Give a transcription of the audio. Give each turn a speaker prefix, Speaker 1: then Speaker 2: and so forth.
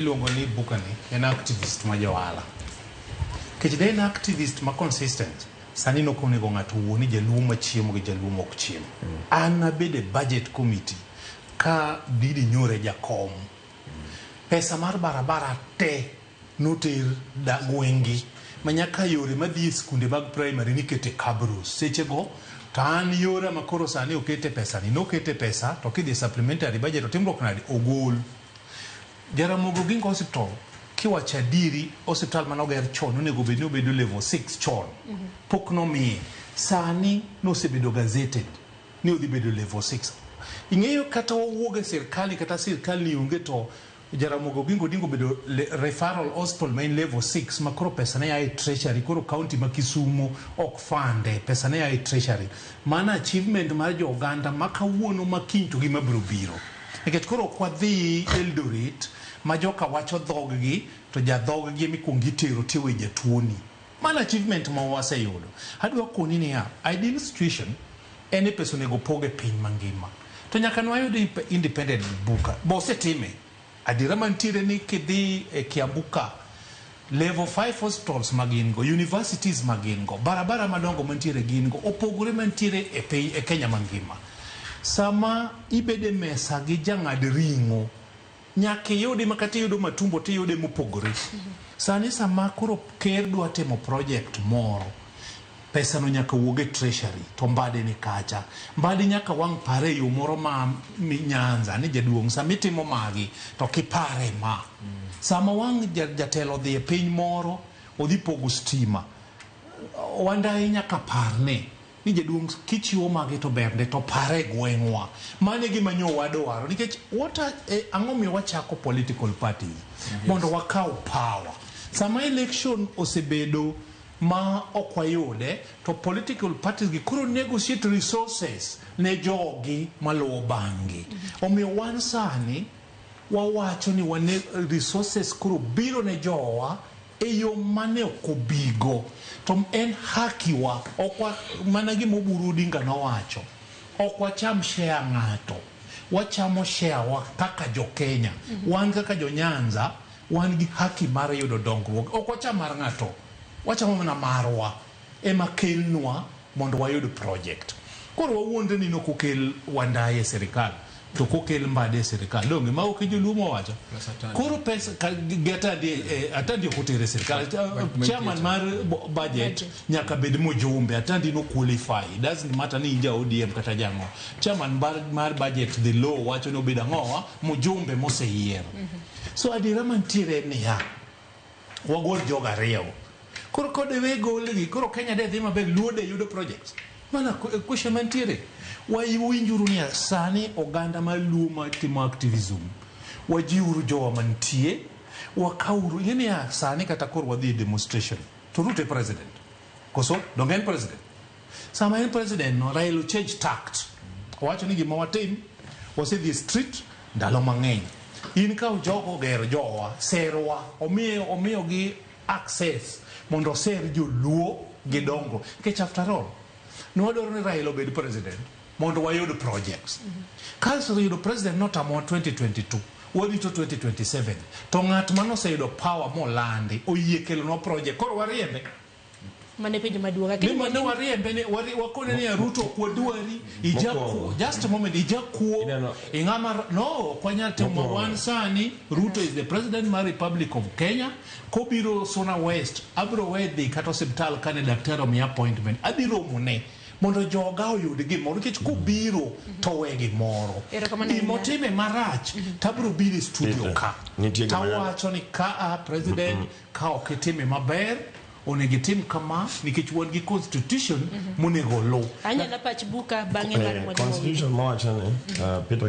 Speaker 1: iluongo ni bukani en activist ma johala kech de en activist ma consistent sani nok onego ng'ato wuo ni jaluo ma chiemo gi jaluo mok chiemo mm. an abede budget committee ka didi nyore jakom mm. pesa mar barabara te noter da gwengi manyaka yore madhi e skunde mag primary nikete kabros seche go to an yora makoro sani okete pesa ni nokete pesa to kidhi supplementary budget otimruok nade ogol Jaramogi Oginga Hospital kiwacho adieri hospital mane oger chon onego bed ni obedo level 6 chon pok nomiye sani nosebedo gazetted ni odhi bedo level 6 ing'eyo kata wawuog e sirkali kata sirkal ni onge to Jaramogi Oginga Odinga obedo le- referral hospital ma en level 6 ma koro pesa ne ya e treasury koro county ma Kisumo ok fande pesa ne ya e treasury mano achievement mar jo oganda ma kawuono ma kiny to gima biro biro Nikech koro ok wadhi Eldoret ma joka wacho dhog gi to ja dhog gi emikuongo itero tiwe jatuoni. Mano achievement ma waseyudo. Adwa koni niya, ideal situation en ni pesa onego opog e piny mangima. To nyaka ne wayud independent buka. Be osetime? Adiera mantiere ni kidhi e Kiambu ka, Level five hospitals ma gin go, universities ma gin go, barabara madongo mantiere gin go opogore mantiere e piny e Kenya mangima. Sama ibede mesa gi jang'ad ring'o nyaka iyudi makata iyudo matumbo tiyude mopogore. Sani sama koro ker dwa timo project moro Pesa no nyaka wuog e treasury to Mbadi ni kacha. Mbadi nyaka wang' pare e yo moro ma mi Nyanza ni jaduong' sama itimo magi to kipare ma. Sama wang' ja- jatelo odhi e piny moro odhi pogo stima wandayi nyaka par ni ni jaduong' kichiwo magi to bernde to pare e gweng'wa. Mano e gima nyo wadwaro nikech what are, eh, ang'o miyo wachako political parties mondo wakaw power. Sama election osebedo ma ok wayude to political parties gi koro negotiate resources ne jogi maluwo bang'gi omiyo wan sani wawacho ni wane resources koro biro ne jowa e yo mane ok obigo to en hakiwa ok wa- mana gima oburu odinga nowacho ok wacham share ng'ato wachamo share wa kaka jo Kenya wan kaka jo Nyanza Wan gi haki mar yudo dongruoge. Ok wacham mar ng'ato, wachamo mana marwa ema kelnwa mondo wayud project. Koro wawuondre ni nokokel wa ndai e sirikal to kokel mbadi e sirikal donge mago ke joluo mowacho. Koro pesa ka gatadi eh, atadi ok otere e sirikal. Eh, chairman mar bu- budget nyaka bed mojumbe. Atadi no qualify. It doesn't matter ni in ja ODM kata jang'o. Chairman bar- mar budget the law wacho ni obed ang'owa mojumbe moseyier. So adiera mantiere en niya, wagol jogo ariyogo. Koro kodewe golgi, koro Kenya de dhi maber, Luo de yudo projects. Mana ku- question mantiere. Wawinjuru niya, sani oganda mar Luo matimo activism, wajiwuru jowa mantie, wakawuru, ing'e niya, sani kata koro wadhi e demonstration, to Ruto e president. Koso, donge en president? Sama en president no, Rael change tact. Owacho ni gima watim, wasedhi e street ndalo mang'eny. In ka jogo oger jowa, serwa, omiyo omiyo gi access mondo oser joluo gi dongo. Kech after all, ne wadwaro ni Rael obed president mondo wayud projects. Kasto yudo president notamowa 2022 warito 2027 to ng'at mane oseyudo power molandi oyie kelonwa project koro wariembe mane
Speaker 2: penjo maduong' lakini Ni mane wariembe
Speaker 1: ni wari- wakone ni Ruto ok wadwari ijakuo Mokwongo. just a moment ijakuo Ineno- ing'ama r- no ok wanyal timo Mokwongo. wan sani Ruto is the president mar Republic of Kenya kobiro Suna West abiro we dhi kata osiptal kane daktari omiya appointment adhi romone mondo joga oyud gimoro nikech kobiro to we gimoro Erokamano ahinya. gimotime marach tabiro biro e studio Peter, ka nitie gima nyalo- tawacho ni ka a president Ka ok itime maber, onego itim kama nikech wan gi constitution
Speaker 2: monego
Speaker 3: oluw.
Speaker 2: Anyala pach
Speaker 3: buka
Speaker 2: bang'e
Speaker 1: mar Eh, mwalimu
Speaker 3: Constitution
Speaker 2: mawacho ni
Speaker 3: uh,
Speaker 2: Peter